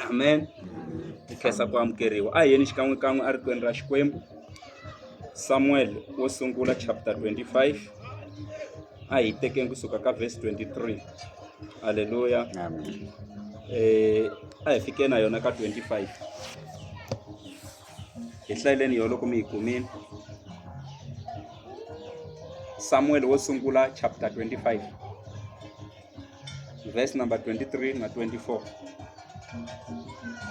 amen hi khensa ku amukeriwa a hi yeni xikan'wekan'we a rikwenu ra xikwembu samuel wo sungula chapter 25 a hi tekeni kusuka ka verse 23 halleluya amen eh a hi fike na yona ka 25 hi hlayeleni yo loko mi yi kumile samuel wo sungula chapter 25 verse number 23 na 24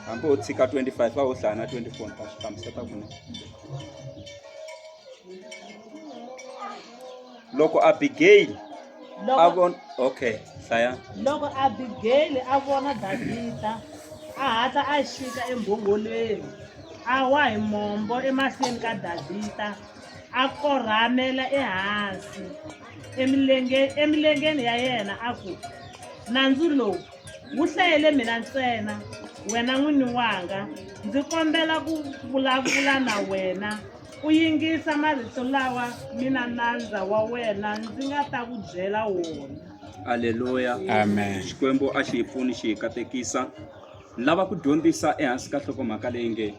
hambi u tshika 25 va u hlaya na 24 ni ta swi hlamuseta kune loko abigayili a von okay hlaya loko abigayili a vona davhida a hatla a xika embhongolweni a wa hi mombo emahlweni ka davhida a korhamela ehansi emilenge- emilengeni ya yena a ku, Nandzu lowu wu hlayele mina ntsena, wena n'wini wanga, ndzi kombela ku vulavula na wena, u yingisa marito lawa mina nandza wa wena ndzi nga ta ku byela wona. Aleluya. Amen. Xikwembu a xi hi pfuni xi hi katekisa. Ni lava ku dyondzisa ehansi ka nhlokomhaka leyi nge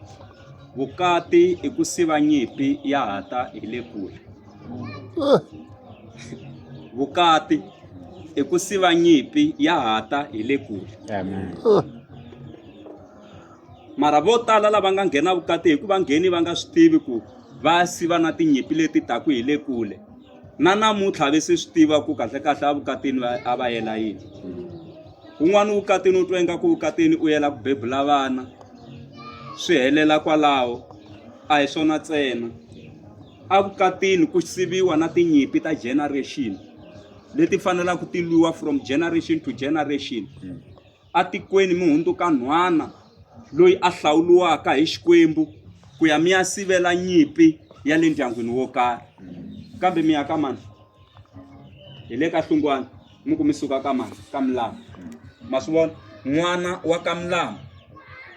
vukati i ku siva nyimpi ya ha ta hi le kule. vukati i ku siva nyimpi ya hata hi le kule mara vo tala lava nga nghena vukati hi ku va ngheni va nga swi tivi ku va siva na tinyimpi leti taku hi le kule na namuntlha ve se swi tiva ku kahlekahle evukatini a va yela yini un'wana vukatini u twa ingaku vukatini u yela ku bebula vana swi helela kwalaho a hi swona ntsena Evukatini ku siviwa na tinyimpi ta generation leti fanelaka ti lwiwa from generation to generation atikweni mi hundzuka nhwana loyi a hlawuriwaka hi Xikwembu ku ya mi ya sivela nyimpi ya le ndyangwini wo karhi kambe mi ya ka mani hi le ka Hlungwana. mi ku mi suka ka mani ka milamu ma swi vona n'wana wa ka milamu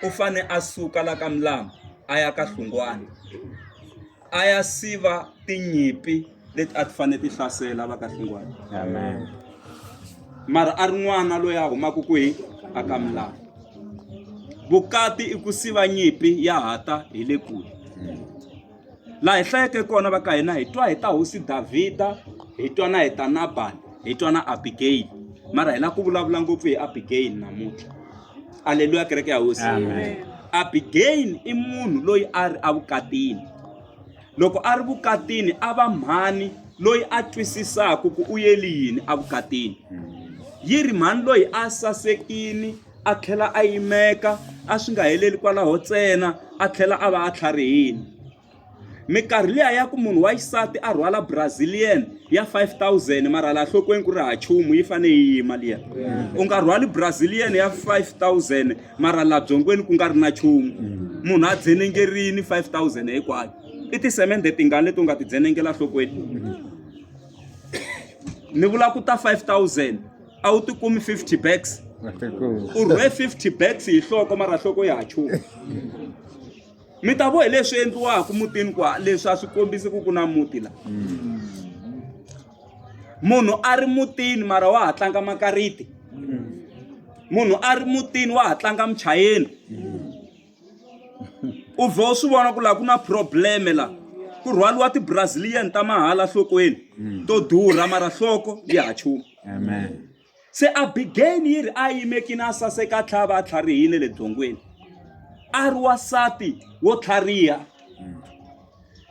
u fane a suka la ka milamu a ya ka hlungwana a ya siva tinyimpi leti a ti fanele ti hlasela va ka hlungwana amen mara a ri n'wana loyi a humaka kwihi a ka milamu vukati i ku siva nyimpi ya hata hi le kule laha hi hlayeke kona va ka hina hi twa hi ta hosi Davhida hi twa na hi ta Nabali hi twa na Abigail mara hi lava ku vulavula ngopfu hi Abigail namuntlha aleluya kereke ya hosi Abigail i munhu loyi a ri evukatini loko a ri vukatini a va mhani loyi a twisisaka ku u yeli yini evukatini yi ri mhani loyi a sasekini a tlhela a yimeka a swi nga heleli kwalaho ntsena a tlhela a va a tlharihile minkarhi liya ya ku munhu wa xisati a rhwala brazilian ya 5000 mara laha nhlokweni ku ri ha chumu yi fanele yi yima liya u nga rhwali brazilian ya 5000 mara laha byongweni ku nga ri na chumu munhu a dzenengerini 5000 hinkwayo i tisemende tingani leti u nga ti dzenengela nhlokweni ni vula ku ta 5000 a wu ti kumi 50 bags u rhwe 50 bags hi hloko mara hloko ya chu mi ta vo hi leswi endliwaka mutini kwa leswi a swi kombisi ku ku na muti la munhu a ri mutini mara wa ha tlanga makariti munhu a ri mutini wa ha tlanga muchayeni u vhe u swi vona ku laha ku na probleme laha ku rhwaliwa ti-brazilian ta mahala nhlokweni to durha mara nhloko ya ha chuma Amen. se abigayini yi ri a yimekini a saseka a tlhava a tlharihile le byongweni a ri wasati wo tlhariha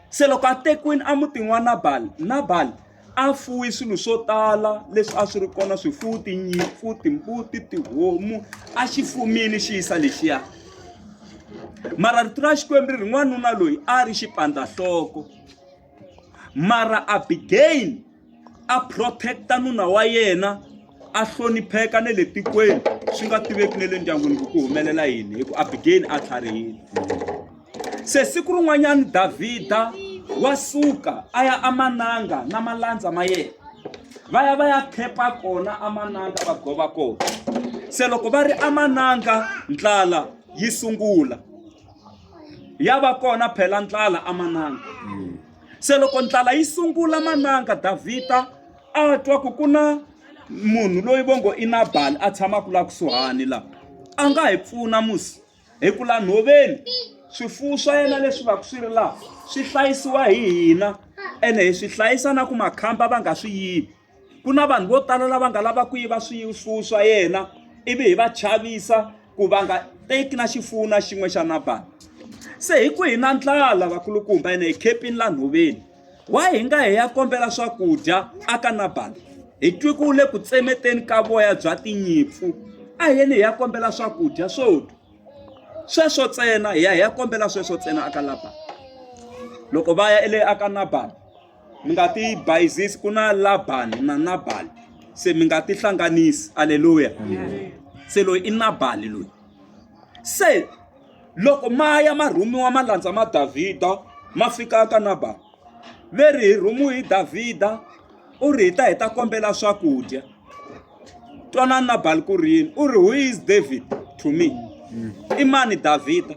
se loko a tekiwini emutini wa nabali nabali a fuwi swilo swo tala leswi a swi ri kona swifuwo tinyimpfu timbuti tihomu a xi fumini xi yisa lexiya mara rito ra xikwembu ri ri n'wanuna loyi a ri xipandzahloko mara abigayini a protect-a nuna wa yena a hlonipheka na le tikweni swi nga tiveki na le ndyangwini ku ku humelela yini hi ku abigeni a tlharihile se siku rin'wanyana davhida wa suka a ya amananga na malandza ma yena va ya va ya khepa kona amananga va gova kona se loko va ri amananga ndlala yi sungula ya va kona phela ndlala amananga Se loko ndlala yi sungula mananga Davhida a twa ku ku na munhu loyi vo ngo i Nabali a tshamaka laha kusuhani laha a nga hi pfuna musi hi ku laha nhoveni swifuwo swa yena leswi va ku swi ri laha swi hlayisiwa hi hina ene hi swi hlayisa na ku makhamba va nga swi yivi ku na vanhu vo tala lava nga lava ku yiva swifuwo swa yena ivi hi va chavisa ku va nga teki na xifuwo na xin'we xa nabani se hi ku hi na ndlala vakulukumba ene hi khepini la nhoveni wa hi nga hi ya kombela swakudya aka nabani hi twi ku le ku tsemeteni ka voya bya tinyimpfu a yeni hi ya kombela swakudya swo dya sweswo ntsena hi ya hi ya kombela sweswo ntsena aka labani loko va ya ele aka nabani mi nga ti bayizisi ku na labani na nabali se mi nga ti hlanganisi aleluya se loyi i nabali loyi se loko ma ya ma rhumiwa ma landza ma davhida ma fika ka nabali ve ri hi rhumiwe hi davhida u ri hi ta hi ta kombela swakudya Twanani Nabali ku ri yini? U ri, Who is David to me? I mani Davhida?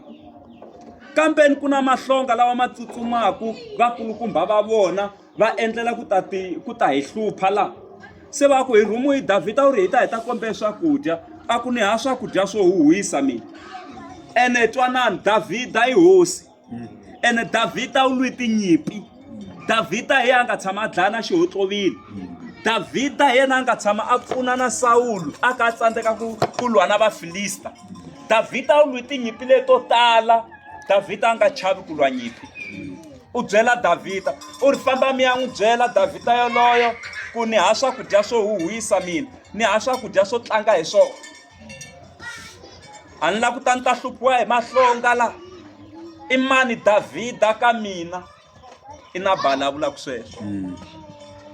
Kambeni ku na mahlonga lawa ma tsutsumaka vakulukumba va vona va endlela ku ta ti ku ta hi hlupha laha se va ku hi rhumiwe hi davhida u ri hi ta hi ta kombela swakudya a ku ni ha swakudya swo huhisa mina ene twanani davhida i hosi ene davhida u lwi tinyimpi davhida hi yena a nga tshama a dlaya na xihotlovile davhida hi yena a nga tshama a pfuna na sawulu a ka a tsandzeka ku ku lwa na vafilista davhida u lwi tinyimpi leto tala davhida a nga chavi ku lwa nyimpi u byela davhida u ri famba mi ya n'wi byela davhida yoloyo ku ni ha swakudya swo huhwisa mina ni ha swakudya swo tlanga hi swona a ni lava ku ta ni ta hluphiwa hi mahlonga laha i mani Davhida ka mina i Nabala a vulaka sweswo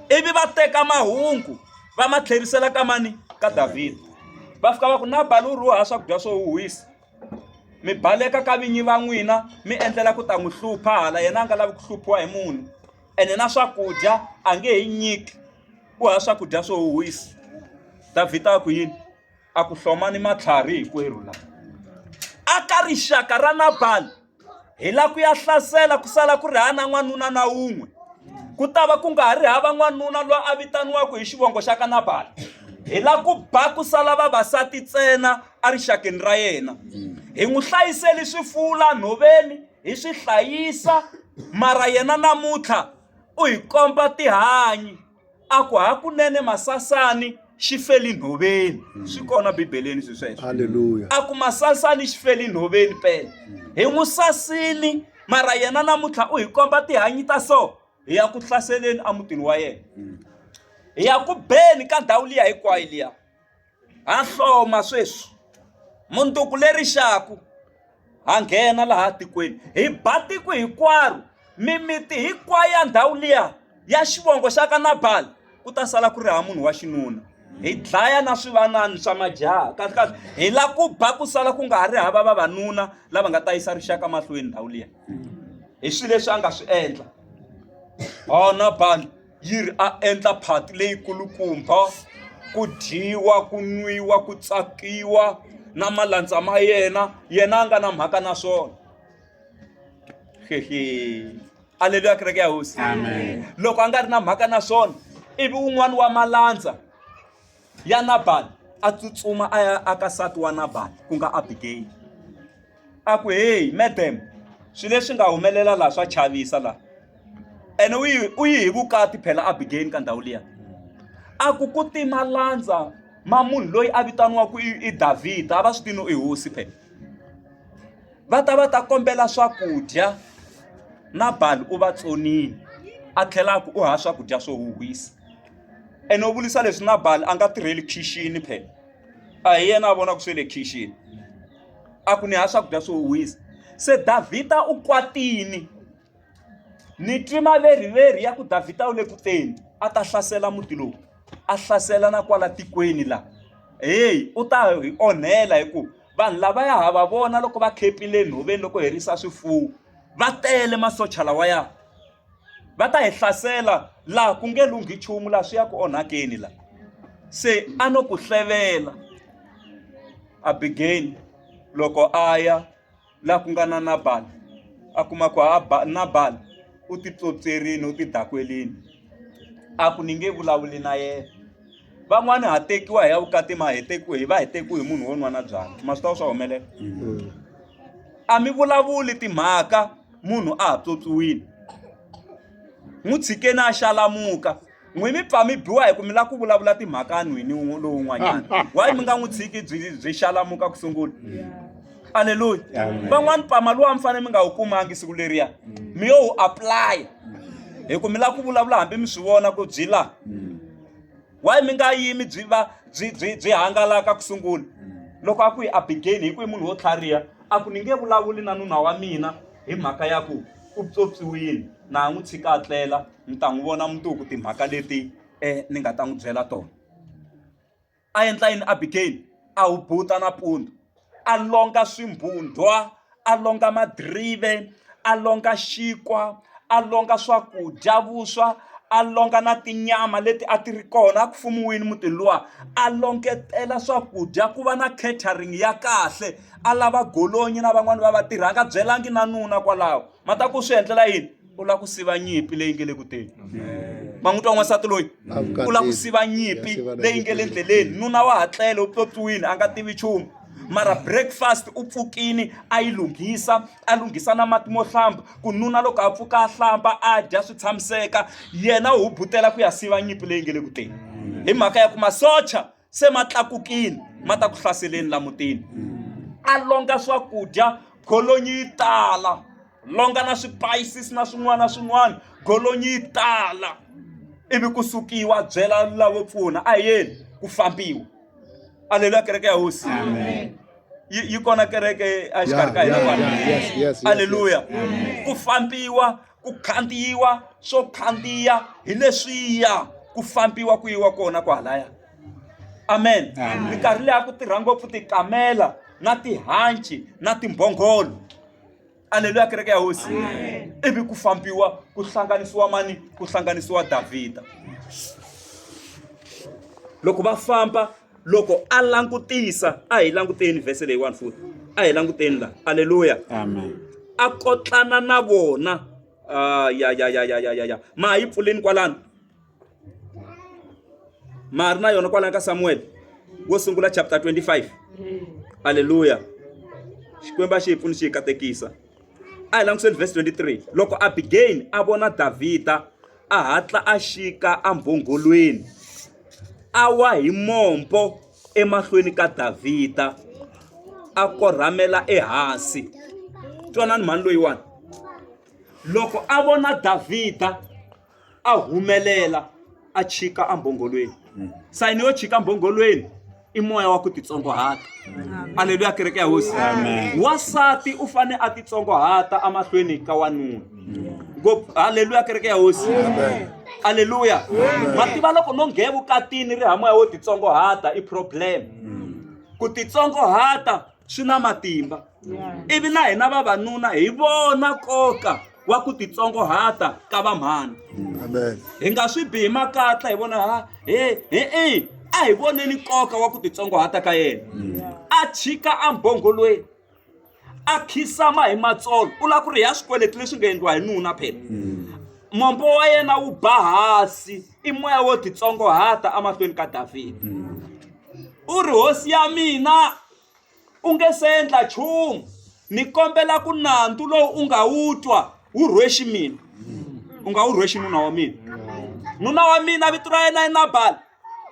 ivi va teka mahungu va ma tlherisela ka mani ka Davhida va fika va ku Nabala u rhuha swakudya swo huhisa mi baleka ka vinyi va n'wina mi endlela ku ta n'wi hlupha hala yena a nga lavi ku hluphiwa hi munhu ene na swakudya a nge he nyiki. ku hava swakudya swo huhisa Davhida a ku yini a ku hlomani matlhari hinkwerhu laha a ka rixaka ra Nabali hi la ku ya hlasela ku sala ku ri ha na n'wanuna na wun'we ku ta va ku nga ha ri hava n'wanuna loyi a vitaniwaka hi xivongo xa ka Nabali hi la ku ba ku sala vavasati ntsena erixakeni ra yena hi n'wi hlayiseli swifuwo laha nhoveni hi swi hlayisa mara yena namuntlha U hi komba tihanyi a ku hakunene masasani xi feli nhoveni mm. swi kona bibeleni swi sweswo a ku masasani xi feli nhoveni pele hi n'wi sasini mara yena namuntlha u hi komba tihanyi ta so hi ya ku hlaseleni emutini wa yena mm. hi ya ku beni ka ndhawu liya hinkwayo liya Ha hloma sweswi. Mundzuku le rixaka ha nghena laha tikweni, hi ba tiko hinkwaro, mimiti hinkwayo ya ndhawu liya ya xivongo xa ka Nabal, ku ta sala ku ri hava munhu wa xinuna. Hi dlaya na swivanana swa majaha, kahlekahle hi lava ku ba ku sala ku nga ha ri hava vavanuna lava nga ta yisa rixaka mahlweni ndhawu liya. Hi swilo leswi a nga swi endla. Hona Nabal. yi ri a endla phati leyi kulukumba ku dyiwa ku nwiwa ku tsakiwa na malandza ma yena yena a nga na mhaka na swona aleluya kereke ya hosi loko a nga ri na mhaka na swona ivi un'wani wa malandza ya Nabali a tsutsuma a ya aka nsati wa Nabali ku nga Abigayili a ku heyi madam swilo leswi nga humelela laha swa chavisa laha ene u yi u yi hi vukati phela Abigayili ka ndhawu liya a ku ku ti malandza ma munhu loyi a vitaniwaka i Davhida a va swi tivi no i hosi phela va ta va ta kombela swakudya Nabali u va tsonile a tlhela a ku u hava swakudya swo huhisa. ene u vulisa leswi Nabal a nga tirheli khixini phela a hi yena a vonaka swe le khixini a ku ni ha swakudya swo wisa se Davhida u kwatini ni twi maveriveri ya ku Davhida u le ku teni a ta hlasela muti lowu a hlasela na kwala tikweni laha heyi u ta hi onhela hi ku vanhu lava ya ha va vona loko va khepile enhoveni loko herisa swifuwo va tele masocha lawaya. va ta hi hlasela laha ku nge lunghi nchumu laha swi ya ku onhakeni la se a no ku hlevela abigeni loko a ya laha ku nga na nabali a kuma ku ha nabali u titsotserini u tidakwerini a ku ni nge vulavuli na yena van'wani ha tekiwa hi ya vukati ma hi tekiwe hi va hi tekiwe hi munhu wo nwana byala ma swi ta swa humelela mm. a mi vulavuli timhaka munhu a ha pyopyiwile n'wi tshikeni a xalamuka n'wi mi pfa mi biwa hi ku mi lava ku vulavula timhaka nhwini lowun'wanyana wayi mi nga n'wi tshiki byi byi xalamuka ku sungula aleluya van'wani pama luwa mi fanele mi nga wu kumangi siku leriya mi yo wu aplaya hi ku mi lava ku vulavula hambi mi swi vona ku byi laha why mi nga yimi byi va byi byi byi hangalaka ku sungula loko a ku yi abigeni hi ku i munhu wo tlhariha a ku ni nge vulavuli na nuna wa mina hi mhaka ya ku u pyopyiwile na ha n'wi tshika a tlela mi ta n'wi vona mundzuku timhaka leti um ni nga ta n'wi byela tona a endla yini abigeni a wu buta nampundzu a longa swimbundwa a longa madirive a longa xinkwa a longa swakudya vuswa a longa na tinyama leti a ti ri kona a ku fumiwile mutini luwa a longetela swakudya ku va na catering ya kahle a lava golonyi na van'wani va vatirhi a nga byelangi na nuna kwalaho ma ta ku swi endlela yini. u lava ku siva nyimpi leyi nge le ku teni ma n'wi twa n'wansati loyi u lava ku siva nyimpi leyi nge le ndleleni nuna wa hatlele u pyopyiwile a nga tivi nchumu mara breakfast u pfukini a yi lunghisa a lunghisa na mati mo hlamba ku nuna loko a pfuka a hlamba a dya swi tshamiseka yena u hubutela ku ya siva nyimpi leyi nge le ku teni hi mhaka ya ku masocha se ma tlakukile ma ta ku hlaseleni la mutini a longa swakudya golonyi yi tala longa na spices na swin'wana na swin'wana golonyi yi tala ivi ku sukiwa byela lavo pfuna a yeni ku fambiwa aleluya kereke ya hosi yi kona kereke exikarhi ka hina aleluya ku fambiwa ku khandziyiwa swo khandziya hi leswiya ku fambiwa ku yiwa kona kwalaya amen minkarhi leya ku tirha ngopfu tikamela na tihanci na timbhongolo aleluya kereke ya hosi ivi ku fambiwa ku hlanganisiwa mani ku hlanganisiwa davhida loko va famba loko a langutisa a hi languteni vhese leyiwani futhi a hi languteni laha aleluya a kotlana na vona ah, ya ya ya ya ya ya ya ma ha yi pfuleni kwalano ma ha ri na yona kwalano ka samuwele wo sungula chapter 25 aleluya xikwembu a xi hi pfuni xi hi katekisa a hi langutiseni vhesi 23 loko abigail a vona davhida A hatla a xika embhongholweni, a wa hi mombo emahlweni ka Davhida, a korhamela ehansi. Twanani mhani loyiwani. Loko a vona Davhida a humelela a chika embhongholweni, sayini yo chika embhongholweni. i moya wa ku titsongohata aleluya kereke ya hosi wasati u fane a titsongohata amahlweni ka wanuna ngopfu aleluya kereke ya hosi aleluya ma tiva loko no nghe vukatini ri hamoya wo titsongohata i problem ku titsongohata swi na matimba ivi na hina vavanuna hi vona nkoka wa ku titsongohata ka vamhani hi nga swi bihi makatla hi vona ha he he e a hi voneni nkoka wa ku titsongohata ka yena a chika embongolweni a khisama hi matsolo u lava ku ri ya swikweleti leswi nga endliwa hi nuna phela mombo wa yena wu ba hansi I moya wo titsongohata emahlweni ka Davhida. Mm. U ri, Hosi ya mina, u nge se endla nchumu. Ni kombela ku nandzu lowu u nga wu twa wu rhwexi mina. Mm. U nga wu rhwexi nuna wa mina. Nuna wa mina vito ra yena i Nabali.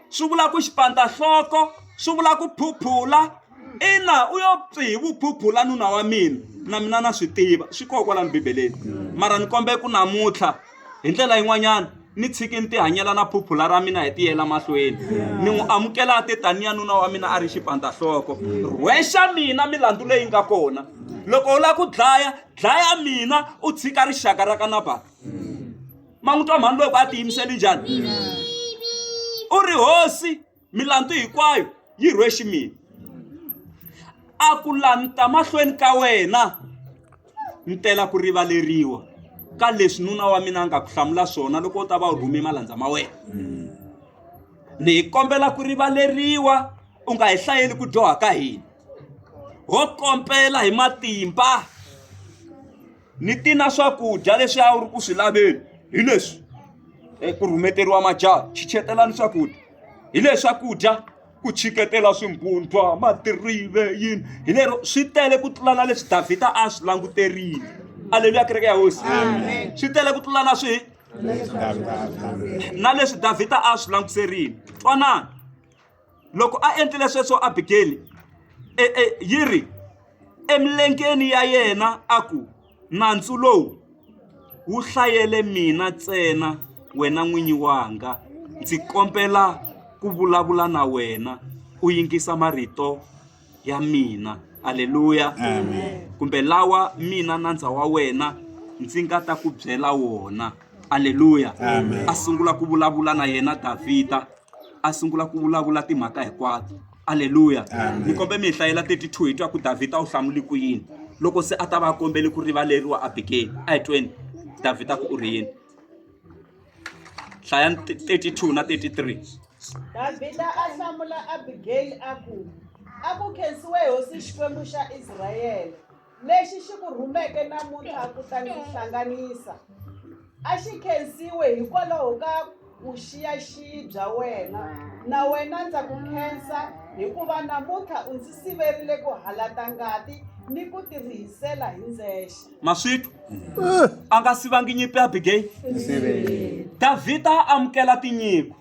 Swi vula ku xipandzahloko, swi vula ku phuphula. Ina, u yo pfi hi vuphuphula nuna wa mina. Na mina na swi tiva, swi koho kwalani Bibeleni. Mm. Mara ni kombela ku namuntlha, Hi ndlela yin'wanyana ni tshiki ni tihanyela na phuphula ra mina hi tiyela mahlweni ni n'wi amukela a te taniya nuna wa mina a ri xipandzahloko rhwexa mina milandzu leyi nga kona loko u lava ku dlaya dlaya mina u tshika rixaka ra ka nabala ma n'wi twa mhani loko a tiyimiseli njhani u ri hosi milandzu hinkwayo yi rhwexi mina a ku lanita mahlweni ka wena ni tela ku rivaleriwa ka leswi nuna wa mina a nga ku hlamula swona loko u ta va u rhume malandza ma wena ni hi kombela ku rivaleriwa u nga hi hlayeli ku dyoha ka hina ho kombela hi matimba ni ti na swakudya leswi a wu ri ku swi laveni hi leswi ku rhumeteriwa majaha chichetelani swakudya hi leswi swakudya ku chiketela swimbutwa madirive yini hi lero swi tele ku tlula na leswi davhida a swi languterile aleluya kereke ya hosi swi tele ku tlula na swi na leswi davhida a swi languterile twanani loko a endlile sweswo abigeli e, e, yi ri emilengeni ya yena a ku nandzu lowu wu hlayele mina ntsena wena n'winyi wanga ndzi kombela ku vulavula na wena u yingisa marito ya mina. Aleluya! Kumbe lawa mina nandza wa wena ndzi nga ta ku byela wona. Aleluya! A sungula ku vulavula na yena Davhida, a sungula ku vulavula timhaka hinkwato. Aleluya! Ni kombe mi hi hlayela 32 hi twa ku Davhida u hlamuli ku yini loko se a ta va a kombele ku rivaleriwa Abigele. A hi tweni Davhida ku u ri yini. hlaya 32 na 33 davhida a hlamula abigeyili a ku a ku khensiwe hosi xikwembu xa israyele lexi xi ku rhumeke namuntlha ku ta ndzi hlanganisa a xi khensiwe hikwalaho ka vuxiyaxiyi bya wena na wena ndza ku khensa hikuva namuntlha u ndzi siverile ku halata ngati ni ku tirhisela hi ndzexe maswitu a nga sivangi nyimpi ya abigayi davhida a amukela tinyiko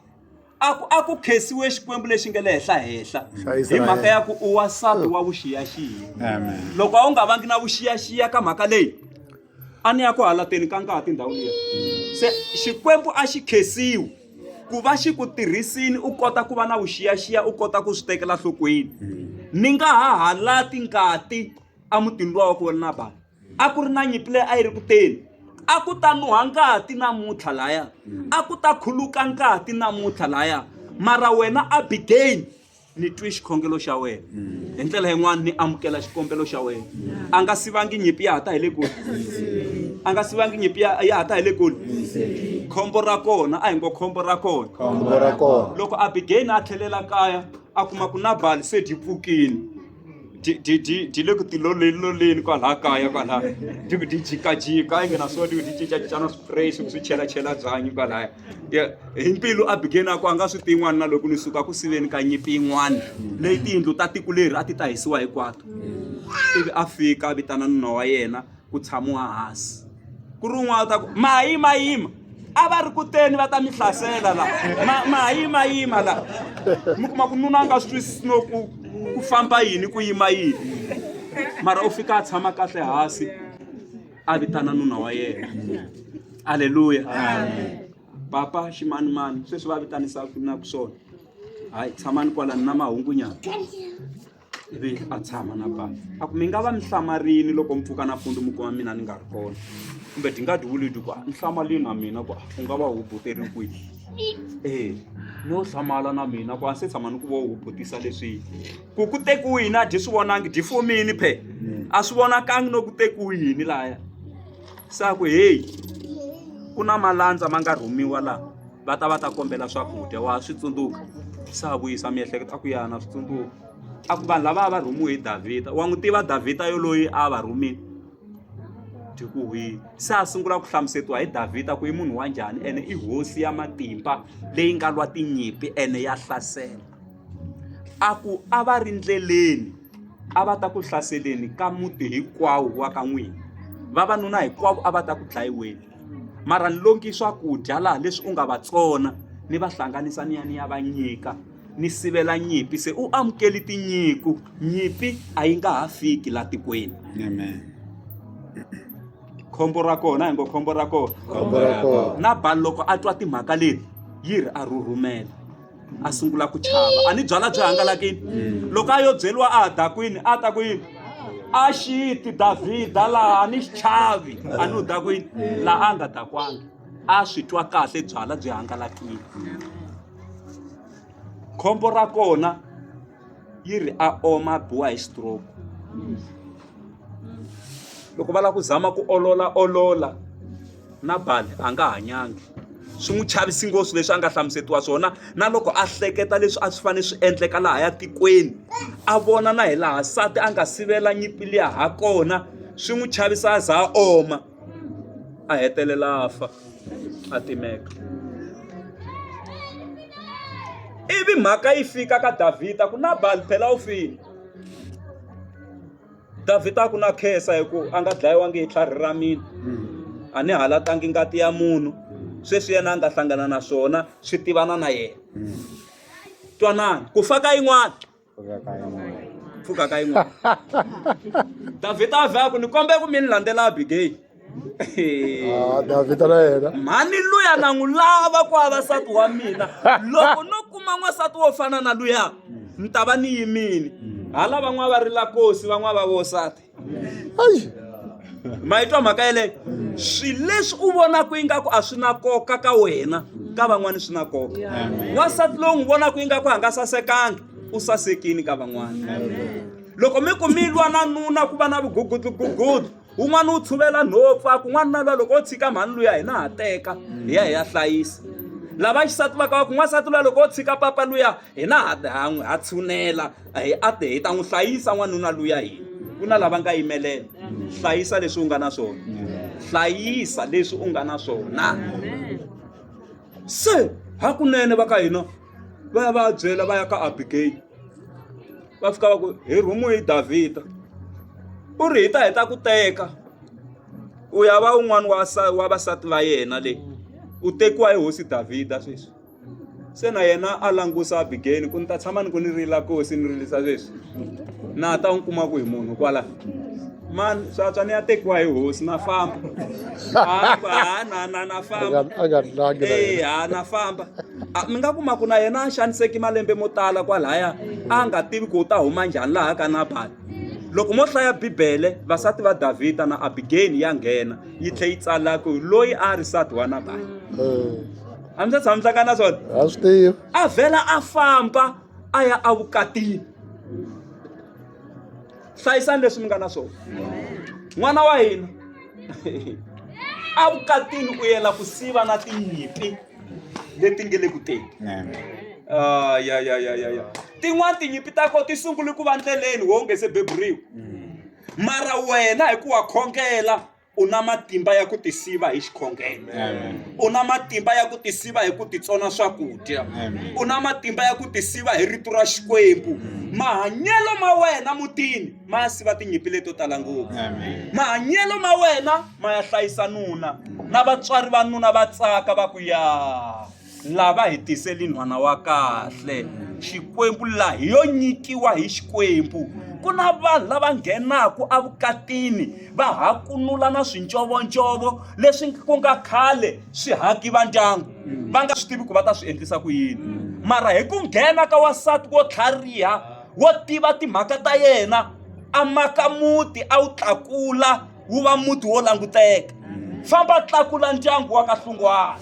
a ku a ku khesiwe xikwembu lexi nge le henhla henhla hi mhaka ya ku u wasati wa vuxiyaxiya loko a wu nga vangi na vuxiyaxiya ka mhaka leyi a ni ya ku halateni ka ngati ndhawu liya se xikwembu a xi khesiwi ku va xi ku tirhisini u kota ku va na vuxiyaxiya u kota ku swi tekela nhlokweni ni nga ha halati ngati emutini luwa wa ku vona bava a ku ri na nyimpi leyi a yi ri ku teni a ku ta nuha ngati namuntlha laya a ku ta khuluka ngati namuntlha laya mara wena abigail ni twi xikhongelo xa wena hi ndlela yin'wana ni amukela xikombelo xa wena a nga sivangi nyimpi ya ha ta hi le kule a nga sivangi nyimpi ya ya ha ta hi le kule khombo ra kona a hi ngo khombo ra kona khombo ra kona loko abigail a tlhelela kaya a kuma ku nabali se dyi pfukile ti le ku tiloleni loleni kwalaha kaya kwalaha ti ku ti jikajika yi nghena so ti ku ti cincacincana spray swi ku swi chelachela byanyi kwalaya hi mbilu a bigeni a ku a nga swi ti yin'wana na loko ni suka ku siveni ka nyimpi yin'wana leyi tiyindlu ta tiko leri a ti ta hisiwa hinkwato ivi a fika a vitana nuna wa yena ku tshamiwa hansi ku ri un'wana u ta ku mayimayima a va ri kuteni va ta mi hlasela la mayimayima la mi kuma ku nuna a nga swi twisisi no ku ku famba yini ku yima yini mara u fika a tshama kahle hansi a vitana nuna wa yena aleluya papa ximanimani sweswi va vitanisa ku na ku swona hayi tshamani kwalani na mahungunyana ivi a tshama na bafa a ku mi nga va mi hlamarini loko mi pfuka nampfundzu mi kuma mina ni nga ri kona kumbe ti nga diwulidi ku ni hlamalini na mina ku u nga va hubuteriwi kwihi ee no hlamala na mina ku a se tshama ni ku vo hubutisa leswi ku ku tekiwi yini a dyi swi vonangi dyi fomini phe a swi vonakangi no ku tekiwi yini laya sa ku heyi ku na malandza ma nga rhumiwa laha va ta va ta kombela swakudya wa swi tsundzuka se a vuyisa miehleketo a ku ya na swi tsundzuka a ku vanhu lava a va rhumiwe hi davhida wa n'wi tiva davhida yoloyi a va rhumile dyi ku hwini se a sungula ku hlamusetiwa hi davhida ku i munhu wa njhani ene i hosi ya matimba leyi nga lwa tinyimpi ene ya hlasela a ku a va ri ndleleni a va ta ku hlaseleni ka muti hinkwawo wa ka n'wina vavanuna hinkwavo a va ta ku dlayiweni mara ni longi swakudya laha leswi u nga va tsona ni va hlanganisa ni ya ni ya va nyika ni sivela nyimpi se u amukeli tinyiku nyimpi a yi nga ha fiki la tikweni amen khombo ra kona hi ngo khombo ra kona na bani loko a twa timhaka leti yi ri a rhurhumela a sungula ku chava a ni byala byi hangalakini mm. loko a yo byeriwa a ha dakwini a ta ku yini a xiti davhida laha a ni xi chavi a ni u dakwini laha a nga dakwanga a swi twa kahle byala byi hangalakile khombo ra kona yi ri a oma a biwa hi stroke loko va lava ku zama ku olola olola na bali a nga hanyangi swi n'wi chavisi ngopfu leswi a nga hlamusetiwa swona na loko a hleketa leswi a swi fanele swi endleka laha ya tikweni a vona na hi laha nsati a nga sivela nyimpi liya ha kona swi n'wi chavisa a za a oma. a hetelela a fa a timeka ivi mhaka yi fika ka davhida ku nabali phela u file davhida a ku na khensa hi ku a nga dlayiwangi hi tlhari ra mina a ni halatangi ngati ya munhu sweswi yena a nga hlangana na swona swi tivana na yena twanani ku fa ka yin'wana pfuka ka yin'wana davhida a vhe a ku ni kombe ku mi ni landzela abigeyili Ah, Davhida na yena mhani luya na n'wi lava ku va vasati wa mina loko no kuma n'wansati wo fana na luya ni ta va ni yimile hala van'wana va ri la kosi van'wana va vosati ayi ma yi twa mhaka yeleyo swilo leswi u vonaka ingaku a swi na koka ka wena ka van'wana swi na koka wansati lowu n'wi vonaka ingaku a nga sasekanga u sasekini ka van'wana loko mi ku mi lwa na nuna ku va na vugugudlugugudlu un'wana u tshuvela nhopfu a kun'wana na lwa loko o tshika mhani luya hina ha teka hi ya hi ya hlayisa lava xisati va ka va ku n'wansati luya loko o tshika papa luya hina ha ha n'wi ha tshunela hi a te hi ta n'wi hlayisa n'wanuna luya hina ku na lava nga yimelela hlayisa leswi u nga na swona hlayisa leswi u nga na swona se hakunene va ka hina va ya va ya byela va ya ka abigeyili va fika va ku hi rhumu hi davhida u ri hi ta heta ku teka u ya va un'wana wa wa vasati va yena le u tekiwa hi hosi davhida sweswi Se na yena a langusa Abigayili ku ni ta tshama ni ku ni rila kosi ni rilisa leswi na ta n'wi kuma ku hi munhu kwala mani swatswa ni ya tekiwa hi hosi na famba ha na na na famba e ha na famba mi nga kuma ku na yena a xaniseki malembe mo tala kwalaya a nga tivi ku u ta huma njhani laha ka nabali loko mo hlaya bibele vasati va davhida na abigeni ya nghena yi tlhe yi tsala ku loyi a ri sati wa nabali a mi se tshama mi hlangana na swona a swi tivi a vhela a famba a ya evukatini hlayisani leswi mi nga na swona n'wana wa hina evukatini u yela ku siva na tinyimpi leti nge le ku teni ah, ya ya ya ya ya tin'wana tinyimpi ta ko ti sungule ku va ndleleni wo nge se beburiwa mara wena hi ku wa khongela u na matimba ya ku tisiva hi xikhongelo u na matimba ya ku tisiva hi ku titsona swakudya u na matimba ya ku tisiva hi rito ra xikwembu mahanyelo ma wena mutini ma ya siva tinyimpi leto tala ngopfu mahanyelo ma wena ma ya hlayisa nuna na vatswari va nuna va tsaka va ku ya Lava hi tiseli nhwana wa kahle, Xikwembu laha hi yo nyikiwa hi Xikwembu. Ku na vanhu lava nghenaka evukatini va hakunula na swincovoncovo leswi ku nga khale swi haki va ndyangu, va nga swi tivi ku va ta swi endlisa ku yini. Mara hi ku nghena ka wansati wo tlhariha, wo tiva timhaka ta yena, a maka muti a wu tlakula. wu va muti wo languteka famba tlakula ndyangu wa kahlungwana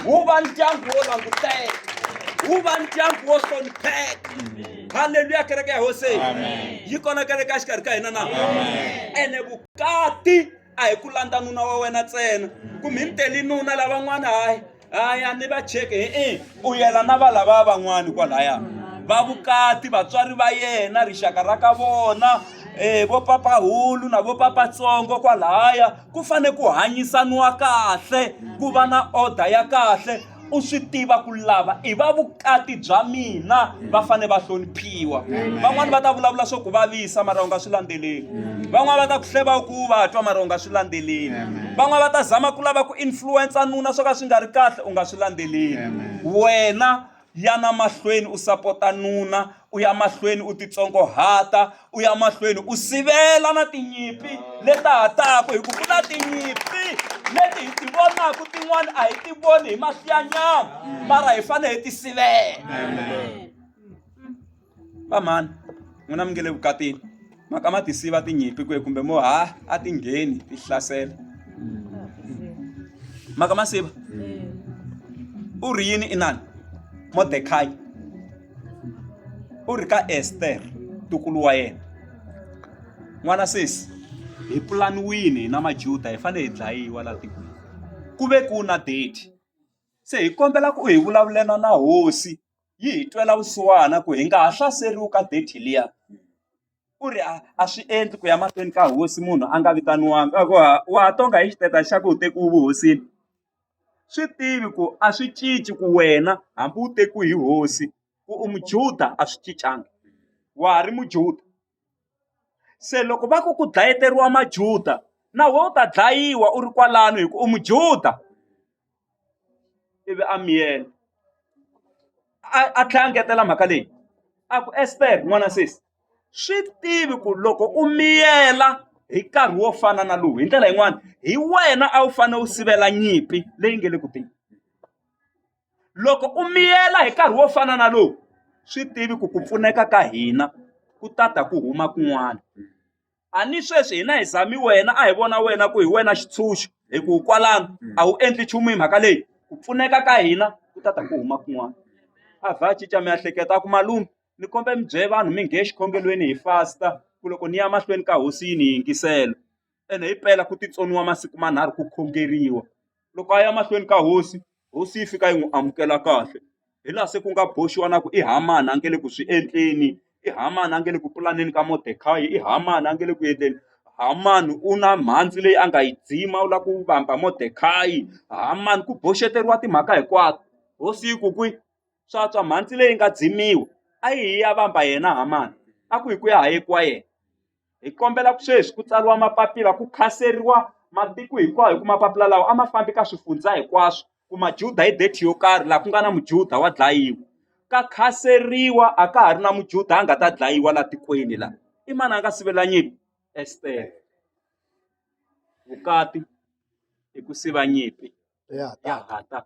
wu va ndyangu wo languteka wu va ndyangu wo hlonipheka halleluya kereke ya hosi yi kona kereke ya xikarhi ka hina na ene vukati a hi ku landza nuna wa wena ntsena kumbe hi mi teli nuna lavan'wana hayi a ya ni va cheke e-e u yela na va lava van'wani kwalaya va vukati vatswari va yena rixaka ra ka vona um vo papahulu na vo papatsongo kwalaya ku fane ku hanyisaniwa kahle ku va na order ya kahle u swi tiva ku lava i va vukati bya mina va fanele va hloniphiwa van'wani va ta vulavula swo ku vavisa mara u nga swi landzeleli van'wani va ta ku hleva ku va twa mara u nga swi landzeleli van'wani va ta zama ku lava ku influensa nuna swo ka swi nga ri kahle u nga swi landzeleli wena yana mahlweni u sapota nuna u ya mahlweni u titsongohata u ya mahlweni u sivela na tinyimpi leti ha taka hi ku ku na tinyimpi leti hi ti vonaka tin'wana a hi ti voni hi mahlo ya nyama mara hi fanele hi ti sivela vamhani n'wina mi nge le vukatini mhaka ma tisiva tinyimpi kwihi kumbe mo ha a ti ngheni ti hlasela mhaka ma siva u ri yini inani modekhayi u ri ka ester tukulu wa yena n'wana sesi hi pulaniwini na majuda hi fanele hi dlayiwa laha tikweni ku ve ku na date se hi kombela ku hi vulavulana na hosi yi hi twela vusiwana ku hi nga ha hlaseriwi ka date liya u ri a a swi endli ku ya mahlweni ka hosi munhu a nga vitaniwanga a ku ha wa ha tonga hi xiteta xa ku u tekiwe vuhosini swi tivi ku a swi cinci ku wena hambi u tekiwe hi hosi ku u mujuda a swi cincanga wa ha ri mujuda Se loko va ku ku dlayeteriwa Majuda na wena u ta dlayiwa u ri kwalano hi ku u Mujuda ivi a miyela a a tlhela a ngetela mhaka leyi a ku Ester n'wana sesi swi tivi ku loko u miyela hi nkarhi wo fana na lowu hi ndlela yin'wani hi wena a wu fanele u sivela nyimpi leyi nga le ku teni. loko u miyela hi nkarhi wo fana na lowu swi tivi ku ku pfuneka ka hina ku ta ta ku huma kun'wana a ni sweswi hina hi zami wena a hi vona wena ku hi wena xitshunxo hi ku kwalano a wu endli nchumu hi mhaka leyi ku pfuneka ka hina ku ta ta ku huma kun'wana a vha cinca miehleketo a ku malume ni kombe mi bye vanhu mi nghe xikhongelweni hi fasta ku loko ni ya mahlweni ka hosi yi ni yingisela. ene hi pela ku titsoniwa masiku manharhu ku khongeriwa loko a ya mahlweni ka hosi hosi yi fika yi n'wi amukela kahle hi laha se ku nga boxiwa na ku i Hamani a nge le ku swi endleni i Hamani a nge le ku pulaneni ka Mordecai i Hamani a nge le ku endleni Hamani u na mhandzi leyi a nga yi dzima u lava ku vamba Mordecai Hamani ku boxeteriwa timhaka hinkwato hosi yi ku kwi swa tswa mhandzi leyi nga dzimiwa a yi hi ya vamba yena Hamani a ku hi ku ya ha yekiwa yena. hi kombela ku sweswi ku tsariwa mapapila ku khanseriwa matiko hinkwawo hi ku mapapila lawa a ma fambi ka swifundza hinkwaswo ku majuda hi date yo karhi laha ku nga na mujuda wa dlayiwa ka khanseriwa a ka ha ri na mujuda a nga ta dlayiwa laha tikweni laha i mani a nga sivela nyimpi estere vukati i ku siva nyimpi ya hatana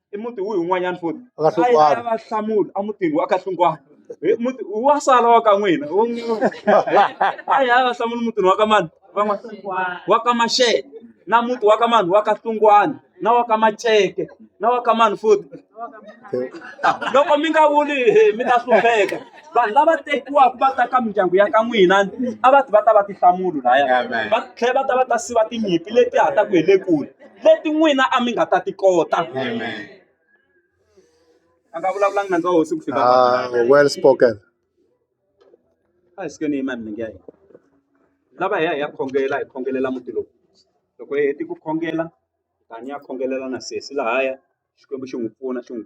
i muti wihi wun'wanyana futhi Wa ka Hlungwana. A yi- a yi va hlamula a mutini wa ka hlungwana Hi muti wa sala wa ka n'wina Wa n'wina. a yi a yi va hlamula mutini wa ka mani van'wana wa ka maxele na muti wa ka mani wa ka hlungwana na wa ka maceke na wa ka mani futhi loko mi nga vuli hi mi ta hlupheka vanhu lava tekiwaka va ta ka mindyangu ya ka n'wina a va ti va ta va tihlamulo laya va tlhela va ta va ta siva tinyimpi leti hataka hi le kule leti n'wina a mi nga ta ti kota a nga vulavulangi nandza wa hosi ku fika Ah, well spoken. a hi sikeni yima milenge ya hina lava hi ya hi ya khongela hi khongelela muti lowu loko hi heti ku khongela tani ya khongelela na sesi lahaya xikwembu xi n'wi pfuna xi n'wi